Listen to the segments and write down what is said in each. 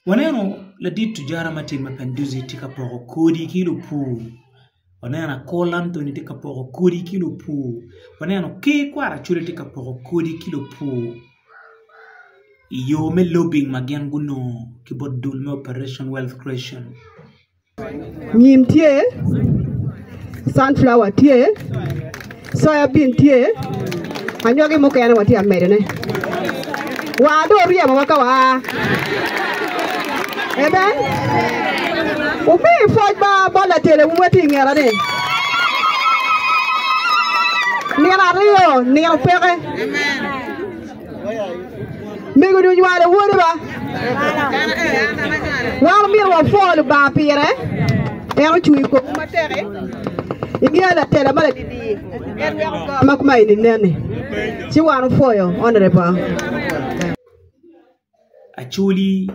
Waneno ladit tujara ma tye i mapenduzi tye ka poko kodi ki lupur waneno akor Anthony tye ka poko kodi ki lupur waneno Ker kwara col tye ka poko kodi ki lupur i yo me lobing ma gin gunongo ki bot dul me operation wealth creation. Nyim tye, sunflower tye, soya bean tye, anyogi mukene watye ka medone. Wa dong oryemowa ka waa. Amen. Wumi pwoc ba bot latelewu ma tye i ngeta-ni. Nino aryo, nino peke. Mego duny wale wode ba. Wan omyero wapwo Lubanga pire. En ocweyo komwu matek-ki. Ingeyo latela ma ladidi en weko gar ma kuma eni nen-ni. Ci wan wupwoyo Honorable. Acholi,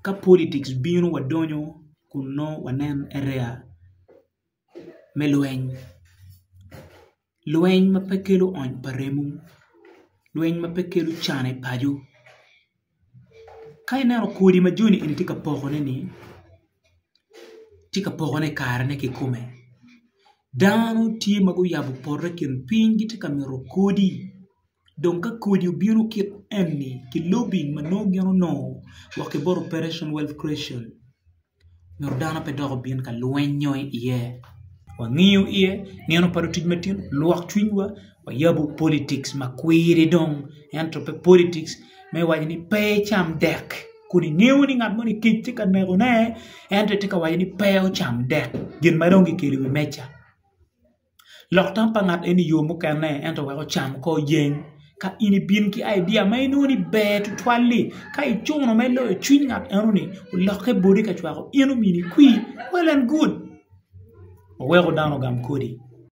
ka politics bino wadonyo kun nongo wanen area me lweny. Lweny ma pe kelo ony pa remo, lweny ma pe kelo can i paco. Ka ineno kodi ma joni eni tye ka pokone ni, tye ka pokone i karene kikome. Dano tye ma guyabo poto i kin piny gitye ka mito kodi. Dong ka kodi obino kit eni ki lobing ma nongo gin onongo wa ki bot Operation Wealth Creation, nyo dano pe dok obin ka lwenyo iye. Wangiyo iye nino pa lutic matino, lwak cwinywa, wayabo politics ma kwiri dong ento pe politics me waco ni pe icam dek kun ingeyo ni ngat moni kec tye ka neko ne ento itye ka waco ni pe ocam dek gin ma dong kikelo i wi meja. Lok tam pa ngat eni yo mukene ento wek ocam kor jeng ka in ibin ki idea ma inongo ni ber tutwal-li ka icuno me loyo cwiny ngat enoni olokke boti ka cwako in omini kwir well and good oweko dano ogam kodi.